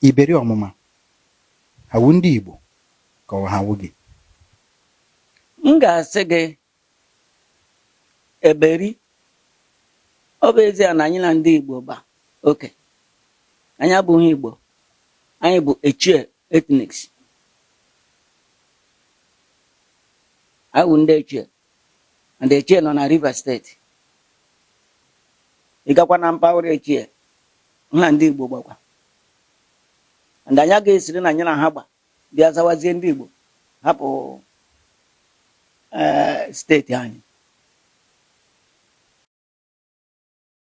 Eberi Ọmụma ha wu ndị Igbo ka ọ ha wu gị? M ga-asị gị Eberi. Ọ bụ ezie na anyị na ndị Igbo gba oke, anyị abụghị Igbo, anyị bụ Echie ethnics. Anyị wụ ndị Echie. and Echie nọ na Rivers steeti ị gakwa na mpaghara Echie ha na ndị Igbo gbakwa and anyị agaghị esiri na anyị na ha gba bịa zawazie ndị Igbo hapụ eh, steeti anyị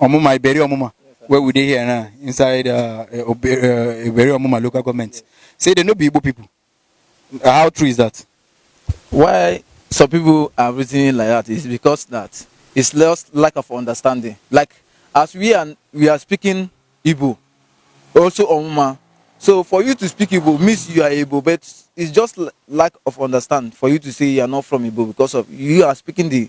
Omuma, Iberi Omuma, where we dey here now, inside uh, eh, eh, Iberi Omuma local government, say they no be Igbo people. Uh, how true is that? Why some people are reasoning like that is because that it's just lack of understanding. Like as we are we are speaking Igbo, also Omuma. So for you to speak Igbo means you are Igbo, but it's just lack of understand for you to say you are not from Igbo because of you are speaking the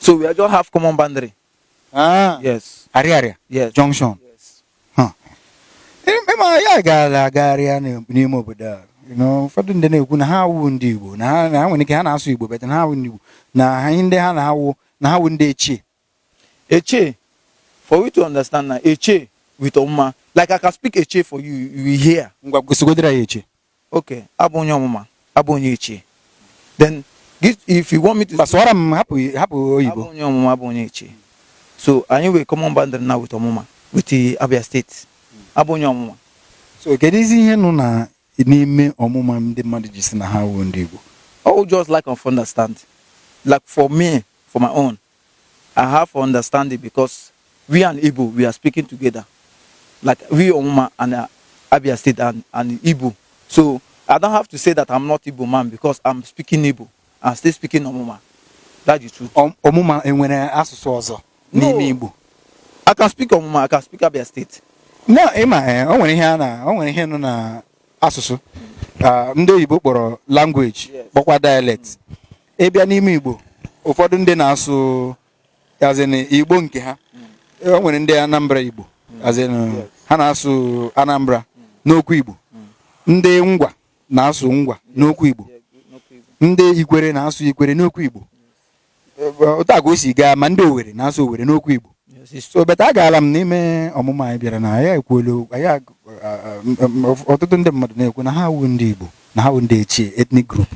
So we are just have common boundary. Ah. Yes. Ariaria. Yes. Junction. Yes. Huh. Ịma anyị agaala agagharịa n'ime obodo a. Ụfọdụ ndị na-ekwu na ha awụ ndị Igbo na ha nwere ike ha na-asụ Igbo but na ha awụ ndị Igbo na ha ndị ha na-awụ na ha wụ ndị Echie. Echie, for you to understand now Echie with Ọmụma. Like I can speak Echie for you, you will hear. Ngwa gosigodere ya Echie. Okay, abụ onye Ọmụma, abụ onye Echie. Then if you want me to. Bịa sụwara m hapụ hapụ oyibo. Abụ onye Ọmụma, abụ onye Echie. So anyị nwe common boundary now with Ọmụma with Abia State. Abụ onye Ọmụma. So kedụzi ihe nọ na n'ime ọmụma ndị mmadụ ji si na ha wuo ndị Igbo oh just lack of understand like for me for my own I have for understanding because we and Igbo we are speaking together like we ọmụma and uh, Abia State and, and Igbo so I don't have to say that I'm not Igbo man because I'm speaking Igbo and still speaking Omuma. That's the truth. Om Omuma enwere asụsụ ọzọ n'ime no. Igbo? I can speak Omuma, I can speak Abia State. No, ịma eh, o nwere ihe a na o nwere ihe nọ na asụsụ ah, ndị oyibo kpọrọ language kpọkwa dialect. Mm. Ị bịa n'ime Igbo ụfọdụ ndị na-asụ as in Igbo nke ha mm. o nwere ndị Anambra Igbo mm. as in ha na-asụ Anambra n'okwu Igbo ndị Ngwa na-asụ Ngwa n'okwu Igbo ndị Ikwere na-asụ Ikwere n'okwu Igbo otu a ka o si gaa ma ndị Owere na-asụ Owere n'okwu Igbo so but agaala m n'ime Ọmụma anyị bịara na ya ekwuolu ọtụtụ ndị mmadụ na-ekwu na ha awu ndị Igbo na ha wu ndị Echie ethnic group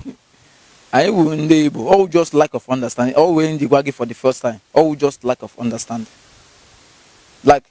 anyị wu ndị Igbo ọ wu just lack of understanding ọ wu ihe m ji gwa gị for the first time ọ wu just lack of understanding like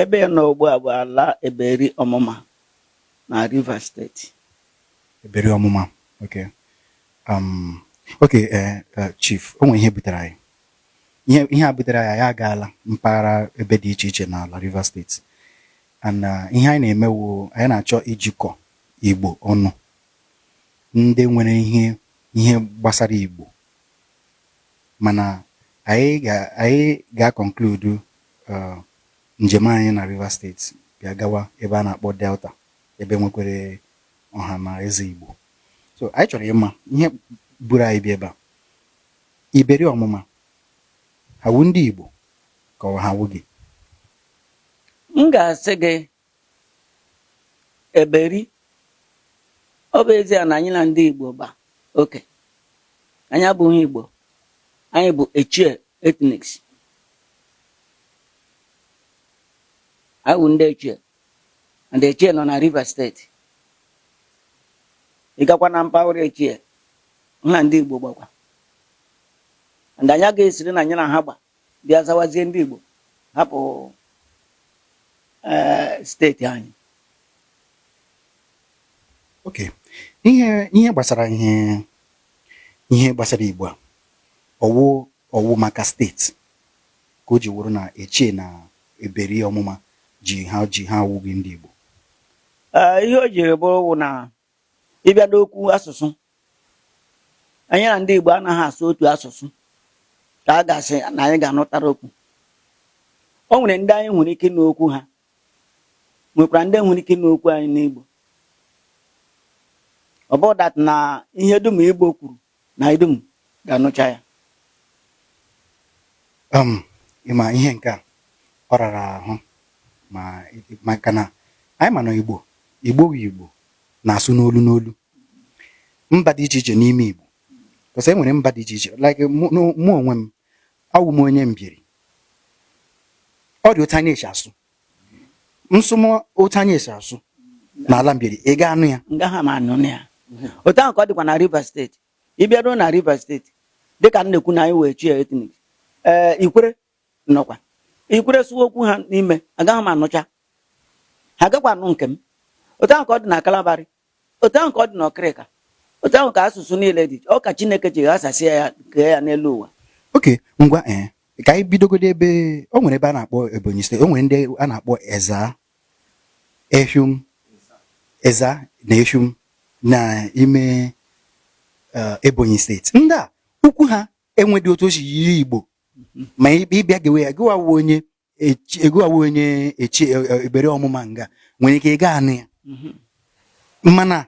Ebe ị nọ ugbu a bụ ala Eberi Ọmụma na Rivers steeti. Eberi Ọmụma, ok. Um, ok, eh, eh, Chief, o nwere ihe butere anyị. Ihe, ihe a butere anyị, anyị agaala mpaghara ebe dị iche iche n'ala Rivers steeti. And uh, ihe anyị na-eme wu, anyị na-achọ ijikọ Igbo ọnụ. Ndị nwere ihe, ihe gbasara Igbo mana anyị ga anyị ga conclude uh, njem anyị na Rivers State bịa gawa ebe a na-akpọ Delta ebe nwekwere ọha na eze Igbo so anyị chọrọ ịma ihe buru anyị bịa ebe a Eberi Ọmụma ha wu ndị Igbo ka ọ ha wu gị m ga-asị gị Eberi, Ọ bụ ezie na anyị na ndị Igbo gba oke, anyị abụghị Igbo, anyị bụ Echie ethnics. Anyị bụ ndị Echie, and Echie nọ na Rivers State. Ị gakwa na mpaghara Echie, ha na ndị Igbo gbakwa. And anyị agaghị esiri na anyị na ha gba bịa zawazie ndị Igbo hapụ eh, steeti anyị ok ihe ihe gbasara ihe ihe gbasara Igbo a ọ wụ ọ wụ maka steeti ka o ji wụrụ na Echie na Eberi Ọmụma ji ha ji ha awụghị ndị Igbo eh, ihe o jiri bụrụ wụ na Ị bịa n'okwu asụsụ, anyị na ndị Igbo anaghị asụ otu asụsụ ka a ga-asị na anyị ga-anụtara okwu. O nwere ndị anyị nwere ike ịnụ okwu ha, nwekwara ndị nwere ike ịnụ okwu anyị n'Igbo. Ọ bụ that na ihe dum Igbo kwuru na anyị dum ga-anụcha ya um ị ma ihe nke a ọ rara ahụ ma maka na anyị ma na Igbo Igbo bụ Igbo na-asụ n'olu n'olu mba dị iche iche n'ime Igbo because e nwere mba dị iche iche like mụ onwe m awụ m onye Mbieri ọ dị otu anyị esi asụ m sụma otu anyị esi asụ n'ala Mbieri ị ga-anụ ya agaghị m anụ ya otu ahụ ka ọ dịkwa na Rivers State ị bịaruo na Rivers State dịka m na-ekwu na anyị wụ Echie ethnic ee Ikwere nọkwa Ikwere sụwa okwu ha n'ime agaghị m anụcha ha agakwa anụ nke m otu ahụ ka ọ dị na Kalabari Otu ahụ ka ọ dị n'Okrika. Otu ahụ ka asụsụ niile dị. Ọ ka Chineke ji ghasasịa ya, kee ya n'elu ụwa. Okay, ngwa ee. Ka anyị bidogodo ebe o nwere ebe a na-akpọ Ebonyi State, o nwere ndị a na-akpọ Ezza, Effium, Ezza na Effium n'ime eh, Ebonyi steeti. Ndị a okwu ha enwedị otu o si yiri Igbo ma ị bịa gewe ya gịwa wụ onye e gịwa wụ onye Echie, e, Eberi Ọmụma nga nwere ike ị ga-anụ ya mhm. mana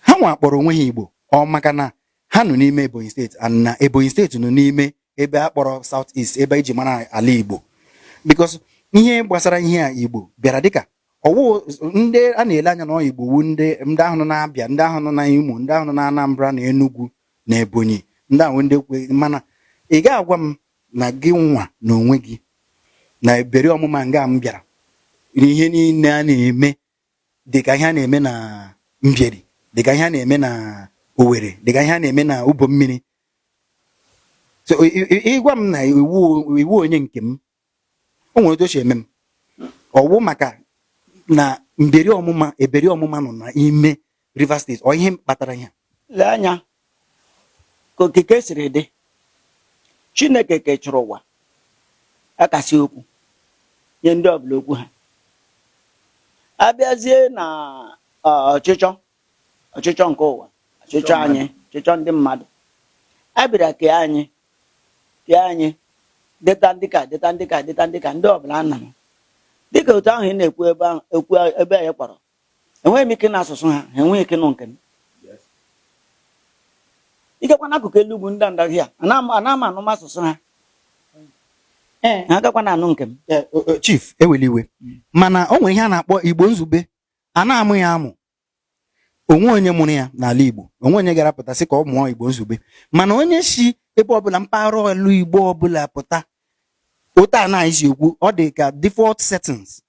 ha nwa kpọrọ onwe ha Igbo ọ maka na ha nọ n'ime Ebonyi State na Ebonyi State nọ n'ime ebe a kpọrọ South East ebe e ji mara ala Igbo because ihe gbasara ihe a Igbo bịara dịka ọ wụ ndị a na-ele anya na ọ Igbo wụ ndị ndị ahụ nọ na Abia ndị ahụ nọ na Imo ndị ahụ nọ na Anambra na Enugu na Ebonyi ndị ahụ ndị kwe mana ị ga-agwa m na gị nwa na onwe gị na Eberi Ọmụma nga m bịara ihe niile a na-eme dịka ihe a na-eme na mbieri dịka ihe a na-eme na owere dịka ihe a na-eme na Ubomiri so ị gwa m na ị wụ onye nke m o nwere otu o si eme m ọ wụ maka na mberi ọmụma eberi ọmụma nọ n'ime Rivers State ọ ihe kpatara ya lee anya ka okike siri dị Chineke kechara ụwa akasị okwu nye ndị ọbụla okwu ha abịazie na ọchịchọ ọchịchọ nke ụwa ọchịchọ anyị ọchịchọ ndị mmadụ a bịara kee anyị kee anyị dịta ndị ka dịta ndị ka dịta ndị ka ndị ọbụla nna m dịka otu ahụ ị na-ekwu ebe ahụ ekwu ebe anyị kpọrọ enweghị m ike nụ asụsụ ha ha enweghị ike nụ nke m ikekwa n'akụkụ elu ugwu ndị ndaghi a ana m ana m anụ m asụsụ ha Ee. ha agakwa na-anụ nke m Eh, o- o- chief ewela iwe mana o nwere ihe a na-akpọ igbo izugbe a na-amụ ya amụ o nwe onye mụrụ ya n'ala igbo o nwe onye gara pụta sị ka ọ mụọ igbo izugbe mana onye si ebe ọbụla mpaghara olu igbo ọbụla pụta otu a na-esi ekwu ọ dị ka default settings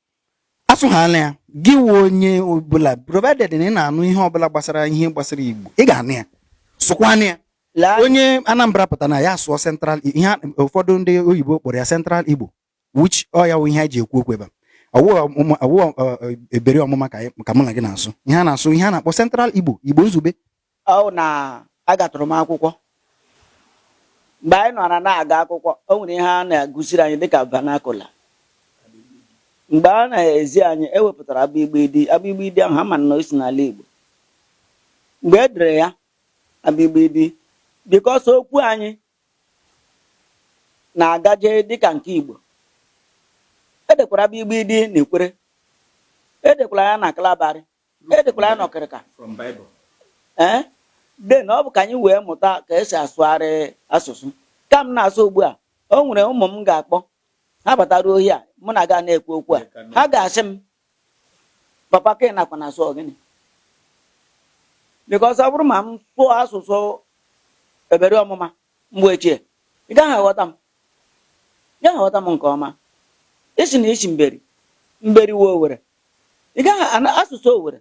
a sụhala ya gị wụ onye ọbụla provided na ị na-anụ ihe ọbụla gbasara ihe gbasara igbo ị ga-anụ ya sụkwanụ ya Lee anya. onye anambra pụta na ya sụọ central I- ihe a- ụfọdụ ndị oyibo kpọrọ ya central igbo which ọ ya wụ ihe anyị ji ekwu okwu ebe a ọ wụ ọmụma- ọ wụ ọ- ọ- Eberi Ọmụma ka anyị- ka mụ na gị na-asụ ihe a na-asụ ihe a na-akpọ central igbo igbo izugbe ọ wụ na agatụrụ m akwụkwọ mgbe anyị nọra na-aga akwụkwọ o nwere ihe a na-agụziri anyị dịka vernacular mgbe a na-ezi anyị e wepụtara abịgbịdị abịgbịdị ahụ ha ma na o si n'ala Igbo mgbe e dere ya abịgbịdị because okwu anyị na-agaje dịka nke Igbo e dekwara abịgbịdị na Ikwere e dekwara ya na Kalabarị E dekwara ya n'Okrika. From Bible. Ee, de na ọ bụ ka anyị wee mụta ka e si asụgharị asụsụ. Ka m na-asụ ugbu a, o nwere ụmụ m ga-akpọ. Ha bataruo ohi a, mụ na gị na-ekwu okwu a. Ha ga-asị m, papa ka ị nakwa na asụ gịnị? Because ọ bụrụ ma m sụọ asụsụ Eberi Ọmụma, Mgbe ochie, ị gaghị aghọta m, ị gaghị aghọta m nke ọma. Ị sị na i si Mbieri, Mbieri wụ Owere. Ị gaghị anụ asụsụ Owere.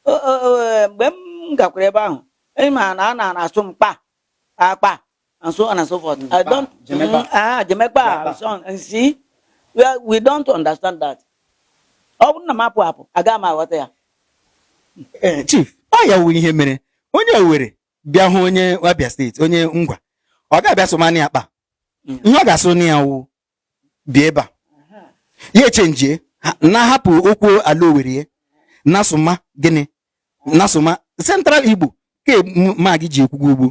O- o- o- e, Mgbe m gakwara ebe ahụ, ị ma na a na asụ m kpa, akpa, and so on and so forth. I don't, Jemekpa. Mm, ah, Jemekpa, Jemekpa. and so on. And see, we, are- we don't understand that. Ọ bụrụ na m apụ apụ, agaghị m aghọta ya. Ee, chief ọ ya wụ ihe mere onye owere bịa hụ onye Abia steeti onye Ngwa ọ ga-abịa sụmani akpa mm. ihe ọ ga-asụ na ya wụ bịa ebe a ya echenjie na-ahapụ okwu ala Owere na-asụma gịnị na-asụma central igbo ke ma gị ji ekwuga ugbu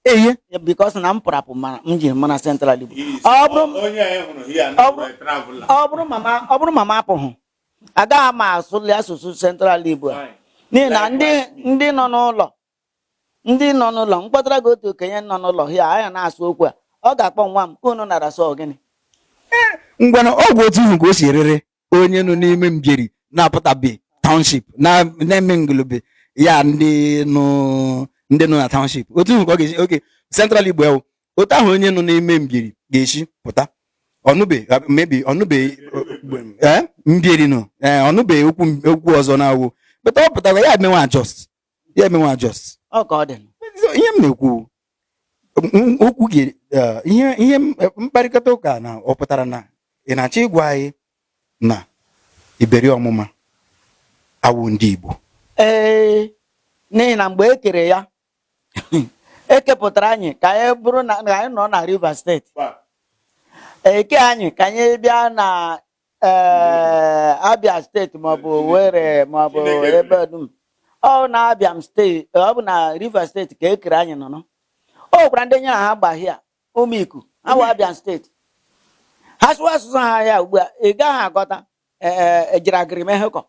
a eye because na m pụrụ apụ mere m ji mara central igbo ọ bụrụ ma m apụghị agaghị m asụli asụsụ central igbo a n'ihi na ndị ndị nọ n'ụlọ ndị nọ n'ụlọ m kpọtara gị otu okenye nọ n'ụlọ ya anyị na-asụ okwu a ọ ga-akpọ nwa m unu nara sụ gịnị ngwana ọ wụ otu ahụ ka o si rịrị onye nọ n'ime Mbieri na-apụtabe township na- na-eme ngulube ya ndị nọ ndị nọ na township otu ahụ ka ọ ga-esi oke central igbo ewu otu ahụ onye nọ n'ime Mbieri ga-esi pụta ọnụbe maybe ọnụbe ee Mbieri nọ ee ọnụbe okwu okwu ọzọ na-awụ but ọ pụta ya emewe adjust ya emewe adjust ọ ka ọ dị So, ihe m na-ekwu m- okwu gị eh, ihe ihe m- eh, mkparịkọta ụka a ọ pụtara na ị na-achọ ịgwa anyị na Eberi Omuma awụ ndị Igbo ee n'ihi na mgbe e kere ya e kepụtara anyị ka anyị bụrụ na na anyị nọ na Rivers steeti e kee anyị ka anyị bịa na ee, Abia steeti maọbụ Owerri maọbụ Chineke kere. ebe dum ọ bụ na Abia steeti ọ bụ na Rivers steeti ka e kere anyị nọ nọ. o nwekwara ndị anyị ra ha gba ahịa Umuiku ha wụ Abia steeti ha sụwa asụsụ ha ya ugbu a ị gaghị aghọta e jira gịrị mee hekọ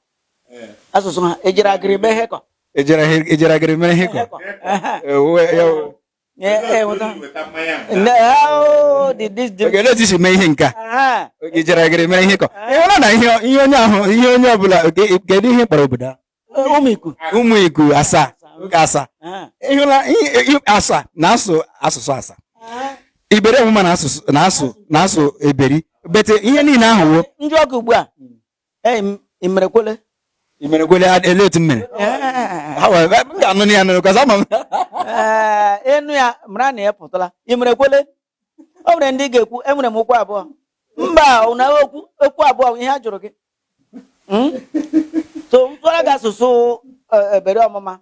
asụsụ ha e jira gịrị mee hekọ e jira gịrị mee hekọ na-eti si mee ihe nke a e jira gịrị mee hekọ ị hụla na ihe onye ahụ ihe onye ọbụla kedu ihe a kpọrọ obodo a Umuiku Umuiku Asa oge Asa ị hụla Asa na-asụ asụsụ Asa Eberi Omuma na-asụ na-asụ Eberi but ihe niile ahụ wụ ndị ọkụ ugbu a imerekwele imerekwele ele otu mmere ga-anụ ya nụrụ kaza ma ị nụ ya mara na ị pụtala imerekwele o nwere ndị ga-ekwu enwere m okwu abụọ mba na-ekwu okwu abụọ ihe a jụrụ gị hmm? so m sụọra gị asụsụ e, Eberi Omuma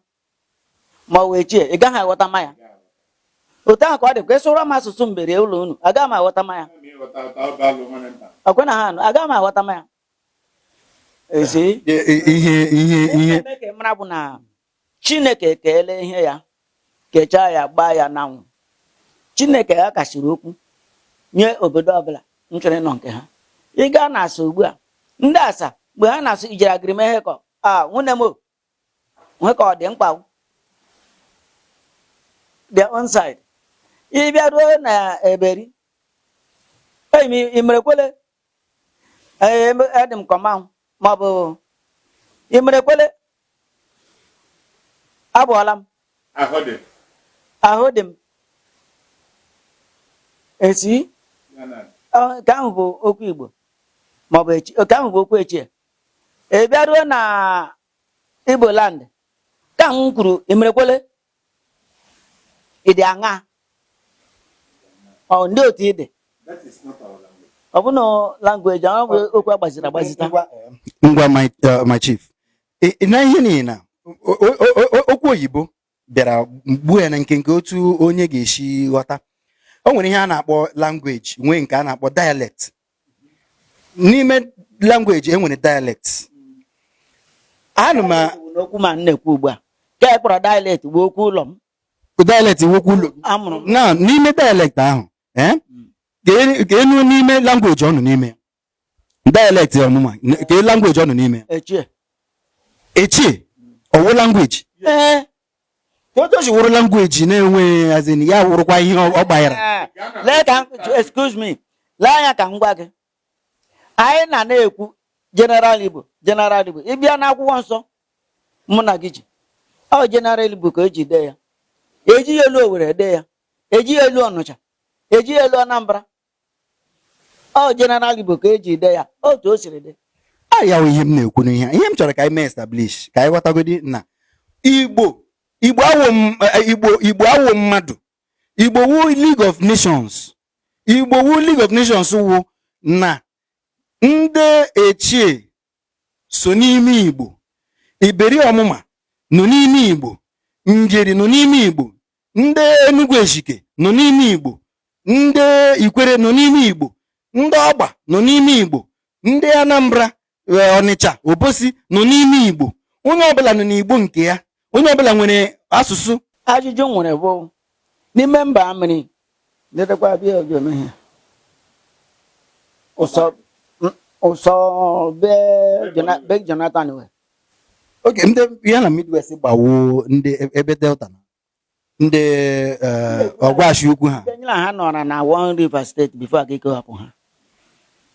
ma ọ wụ Echie ị gaghị aghọtama ya otu ahụ ka ọ dị ka ị sụọra m asụsụ Mbieri ụlọ unu agaghị m aghọtama ya ọkwe na ha anụ agaghị m aghọtama ya ezi ihe ihe ihe m maara bụ na chineke keele ihe ya kechaa ya gbaa ya n'anwụ chineke ya kasiri okwu nye obodo ọbụla nchọrọ ịnọ nke ha ị gaa na asa ugbu a ndị asa mgbe ha na-asụ ijere agirime ihe kọ a nwunye m nwe ka ọ dị mkpa their own side ị bịa ruo na eberi enyi m imerekwole Ee, eme- adị m kọma ma ọ bụ imerekwole abụọla m ahụ dị ahụ dị m esi ya na ọ- nke ahụ bụ okwu igbo ma ọ bụ echi nke ahụ bụ okwu echie ị bịaruo na igbo land ka m kwuru imerekwole Ị dị aṅaa? Ọ ndị otu ị dị? Ọ bụ na language ahụ bụ okwu agbaziri agbazita. Ngwa my, uh, my chief. Ị ị na ihe niile na o- o- o- o- okwu oyibo bịara gbuo ya na nkenke otu onye ga-esi ghọta. O nwere ihe a na-akpọ language, nwee nke a na-akpọ dialect. n'ime language e nwere dialect anụ m okwu ma na-ekwu ugbu a ka e kpọrọ dialect wụ okwu ụlọ m dialect wụ okwu ụlọ amụrụ na n'ime dialect ahụ eh, hmm. ka enu n'ime language ọ nọ n'ime dialect ọmụma ka language ọ nọ n'ime echie echie ọ wụ language ee eh. otu o si wụrụ language na-enwe as in ya wụrụkwa ihe ọ ọ gbanyere Ee, lee ka m- excuse me lee anya ka m gwa gị anyị na na-ekwu general igbo general igbo ị bịa n'akwụkwọ nsọ mụ na gị ji ọ general igbo ka eji dee ya ejighị olu owere dee ya ejighị olu ọnụcha ejighị olu anambra ọ general igbo ka eji ide ya otu o siri dị arịa ihe m na-ekwu n'ihe ihe m chọrọ ka anyị mee establish ka anyị ghọtagodi na igbo igbo awụ m- eh, igbo igbo awụ mmadụ igbo wụ league of nations igbo wụ league of nations wụ na ndị echie so n'ime igbo eberi ọmụma nọ n'ime igbo njeri nọ n'ime igbo ndị Enugu Ezike nọ n'ime Igbo ndị Ikwere nọ n'ime Igbo ndị Ọgba nọ n'ime Igbo ndị Anambra eh, Ọnịcha Obosi nọ n'ime Igbo onye ọbụla nọ n'Igbo nke ya onye ọbụla nwere asụsụ ajụjụ m nwere bụ n'ime mba mmiri letakwa bịa ojome ha ụsọ be Jonathan wee okay ndị ya na midwest gbawo ndị e- ebe delta na ndị eh, ọgwashi ukwu ha Ndị nyere ha nọrọ na one river steeti before aka ikewapụ ha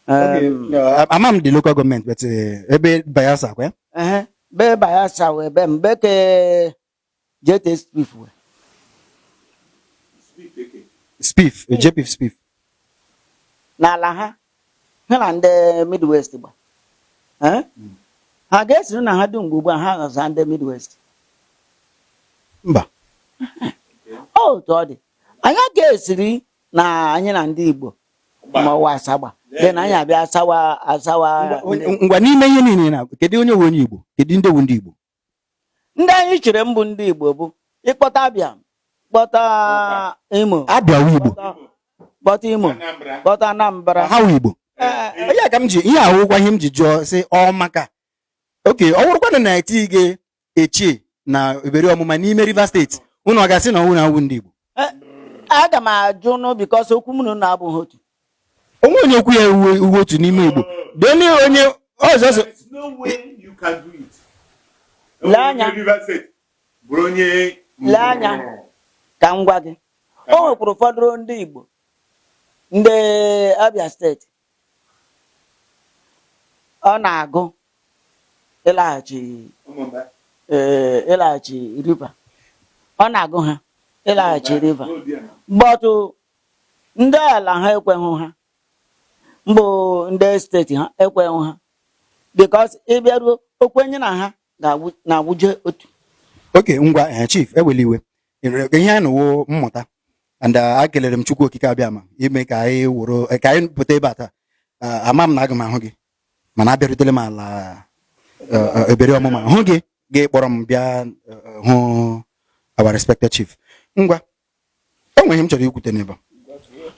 Okay, Em, eh, ama m the local government but eh, ebe bayelsa kwa ya ehe, be bayelsa wee be m be ke Diete Spiff we. Spiff, e Diete Spiff. N'ala ha, ha na ndị Midwest gba. Eh? Hmm. Ha ga-esiri na ha dum mgbe ugbu a ha ghọza ndị Midwest. Mba. Otu ọ dị, anyị ga-esiri na anyị na ndị Igbo ma ọ wụ asagba dị na anyị abịa asawa asawa ngwa n'ime ihe niile na kedu onye wụ onye Igbo kedu ndị wụ ndị Igbo ndị anyị chere mbụ ndị igbo bụ ị kpọta abịa kpọta imo abịa wụ igbo kpọta imo kpọta anambra ha wụ igbo eh, eh, ya ka m ji ihe a wụkwa ihe m ji jụọ sị ọ maka okay ọ wụrụkwanụ na eti gị echie na Eberi Ọmụma n'ime rivers steeti unu ọ ga-asị na unu awụ ndị igbo Eh, aga m ajụ nụ because okwu mụ na unu abụghị otu o nweghị onye okwu ya uwe uwe otu n'ime igbo deni onye ọzọ sị There's no way you can do it. Lee anya. Onye Rivers State bụrụ onye Lee anya. ka m gwa gị o nwekwara ụfọdụ ndị igbo ndị abia steeti ọ na-agụ ịlaghachi ee ịlaghachi River ọ na-agụ ha ịlaghachi River but ndị ala ha ekweghị ha mbụ ndị steeti ha ekweghị ha because ị bịaruo okwenye na ha na-awụje otu okay ngwa eh, chief ewela iwe Enwere ihe anyị nụwo mmụta and uh, ekelere m Chukwu Okike Abịama ime ka anyị wụrụ eh, ka anyị pụta ebe a taa Ah, ama m na aga m ahụ gị mana abịarutele m ala eh, eh, Eberi Ọmụma hụ gị gị kpọrọ m bịa eh, eh, hụ our respected chief ngwa o nwe ihe m chọrọ ikwute n'ebe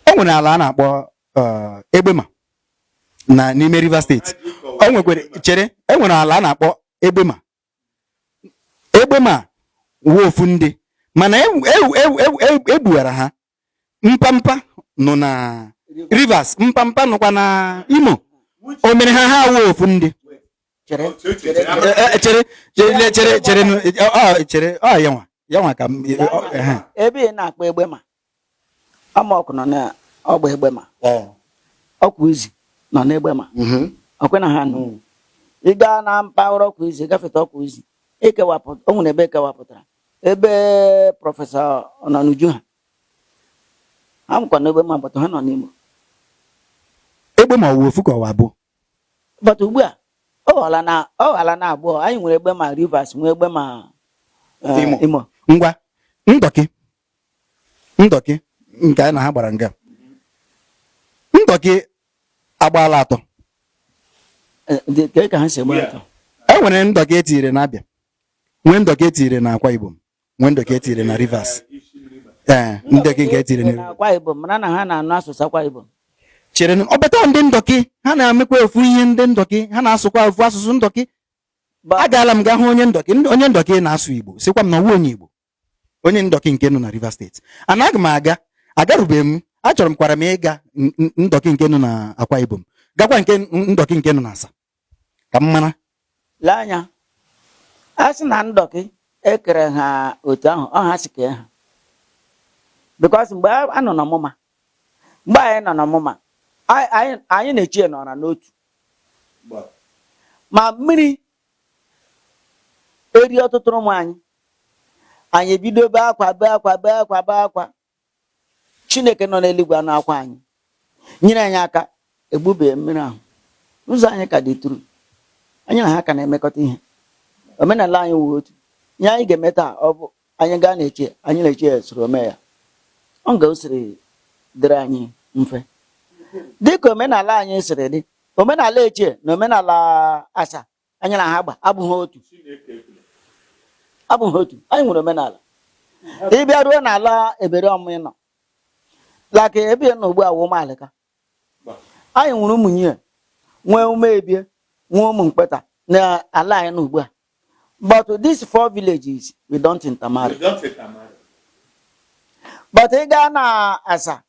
a. o nwere ala a na-akpọ eh, egbema na n'ime Rivers steeti o nwekwere chere e nwere ala a na-akpọ egbema Egbema wụ ofu ndị mana e- e- e- e- e- e gbuwara ha mpampa nọ na rivers mpampa nọkwa na imo o mere ha ha wụ ofu ndị chere E- e- chere chere chere chere nụ, e- ọ- ọ- chere ọ yanwa yanwa ka m- e- ọ- ehe. ebe ị na-akpọ Egbema Ọmọkụ nọ n'Ọgba Egbema eh. Okwuizi nọ n'Egbema mm-hmm. ọkwa na ha anụ mm. ị gaa na mpaghara Okwuizi gafeta Okwuizi ekewapụta o nwere ebe ekewapụtara ebe prọfesọ Ọnọnuju ha ha nọkwa n'Egbema but ha nọ n'Imo Egbema ọ wụ ofu ka ọ wa abụọ but ugbu a ọ ghọọla na abụọ anyị nwere Egbema Rivers nwee Egbema eh, Imo ngwa ndọkị ndọkị nke anyị na ha gbara nga ndọkị agbaala atọ Eh, dị- kee ka ha si gbara atọ e nwere ndọkị etiri na abịa nwee ndọkị etiri na akwa ibom nwee ndọkị etiri na rivers ee ndọkị nke etiri na na akwa ibom mana na ha na-anụ asụsụ akwa ibom chere ọ bata ndị ndọkị ha na-amekwa ofu ihe ndị ndọkị ha na-asụkwa ofu asụsụ ndọkị Ba- agaala m gaa hụ onye ndọkị ndị- onye ndọkị na-asụ igbo sịkwa m na ọ wụ onye igbo onye ndọkị nke nọ na Rivers State and aga m aga agarubeghị m achọrọ m kwara m ịga n- n- ndọkị nke nọ na Akwa Ibom gakwa nke ndọkị nke nọ na Asa ka m mara lee anya a sị na ndọkị ekere ha otu ahụ ọ ha si kee ha because mgbe a a nọ n'ọmụma mgbe anyị nọ n'ọmụma anyị- anyị anyị na Echie nọra n'otu ma mmiri erie ọtụtụrụ ụmụ anyị, anyị ebido bee akwa bee akwa bee akwa bee akwa. Chineke nọ n'eluigwe anụ akwa anyị, nyere anyị aka egbubee mmiri ahụ. Ụzọ anyị ka dị through, anyị na ha ka na-emekọta ihe, omenala anyị wụ otu. Ihe anyị ga-eme taa ọ bụ anyị gaa na Echie anyị na Echie soro mee ya ọ ga o siri dịrị anyị mfe dịka omenala anyị siri dị omenala echie na omenala asa anyị na ha gba abụghị otu abụghị otu anyị nwere omenala ịbịa ruo n'ala Eberi Ọmụma ị nọ like ebe ị nọ ugbu a wụ ụmụalịka anyị nwere ụmụnyie nwee ụmụebie nwee ụmụ mkpeta na ala anyị nọ ugbu a but these four villages we don't intermarry but ị gaa na asa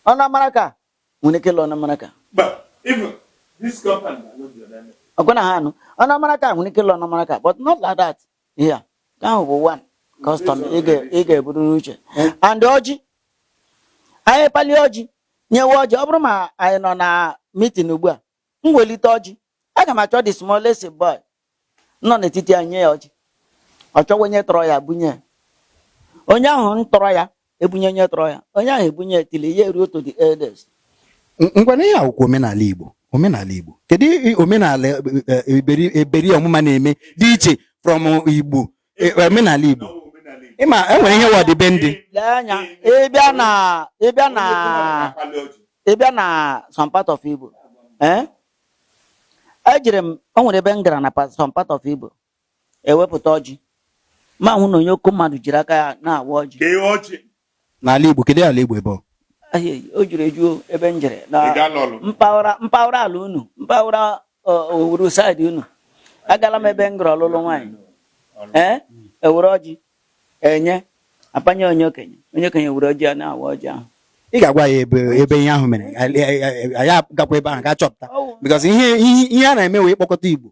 ọnamaraka nwere ike ịlụ ọnamaraka ọkwa na ha anụ ọnamaraka nwere ike ịlụ ọnamaraka but not like that here nke ahụ bụ one custom ị ga- ị ga-eburu n'uche and ọjị anyị pali ọjị nyewe ọjị ọ bụrụ ma anyị nọ na meeting ugbu a m welite ọjị aga m achọ the smallest boy nọ n'etiti anyị nye ya ọjị ọ chọwa onye tọrọ ya bunye ya onye ahụ tọrọ ya ebunye onye tọrọ ya onye ahụ ebunye till ya eruo to the elders ngwanụ ihe a wụkwa omenala Igbo omenala Igbo kedu omenala e, e, e, Eberi Ọmụma na-eme dị iche from Igbo omenala Igbo ị ma e nwere ihe wọdịbe ndị ịbịa na ịbịa na ịbịa na some part of Igbo ejere m o nwere ebe m gara na some part of Igbo ewepụta ọjị m ahụ na onye oke mmadụ jiri aka ya na-awa ọjị Kee ọjị. N'ala Igbo, kedu ala Igbo ebe ọ? Ahịa o juru eju o, ebe m jere na Ị gaala Ọlụ? mpaghara mpaghara ala unu mpaghara ọ, Owerri side unu agala m ebe m gara ọlụlụ nwaanyị ee e were ọjị Enye, apanye onye okenye. Onye okenye were ọjị a na-awa ọjị ahụ. Ị ga-agwa ya ebe ebe ihe ahụ mere a- a- a- a- ya gakwa ebe ahụ gaa chọpụta because ihe ihe ihe a na-eme wụ ịkpọkọta Igbo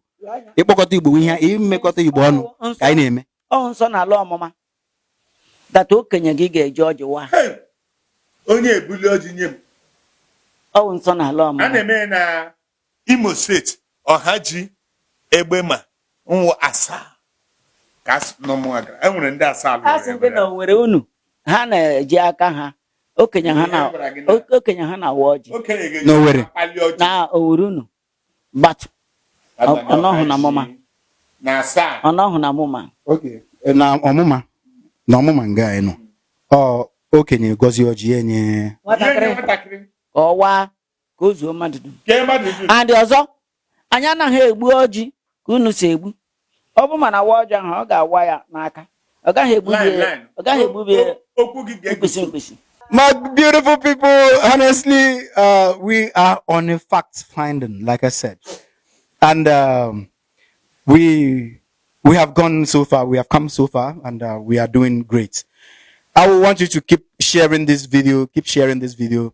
ịkpọkọta Igbo ihe imekọta Igbo ọnụ ka anyị na-eme Ọ wụ nsọ na ala Ọmụma. That okenye gị ga-eji ọjị waa. Hey! onye ebuli ọjị nye m Ọ wụ nsọ na ala a Ọmụma. na-eme ya na Imo steeti, Ọhaji Egbema nwụ Asaa ka a sị n'Ọmụma gara. E nwere ndị Asaa lụrụ Asị ndị na ebere. Owerri unu ha na-eji aka ha okenye ha na Ihe gwara gị na- o- okenye ha na-awa ọjị Okenye ga-eji N'Owerri. akpali ọjị na Owerri unu but abanye ọ- ọ nọghị na ọha mụma. ji na asaa. ọ nọhụ na Ọmụma Okay. Eh, na Ọmụma na Ọmụma nga anyị nọ ọ okenye gọzie ọjị ya enye Ihe nye nwatakịrị nwatakịrị. ka ọ waa ka o zuo mmadụ dum kee mmadụ dum and ọzọ anyị anaghị egbu ọjị ka unu si egbu ọ bụ ma a na-awa ọjị ahụ ọ ga-awa ya n'aka ọ gaghị egbu Line, ya line. ọ gaghị egbu ya O- okwu gị ga-egosi mkpịsị mkpịsị My beautiful people, honestly, uh, we are on a fact finding, like I said, and um, we we have gone so far, we have come so far, and uh, we are doing great. I will want you to keep sharing this video, keep sharing this video,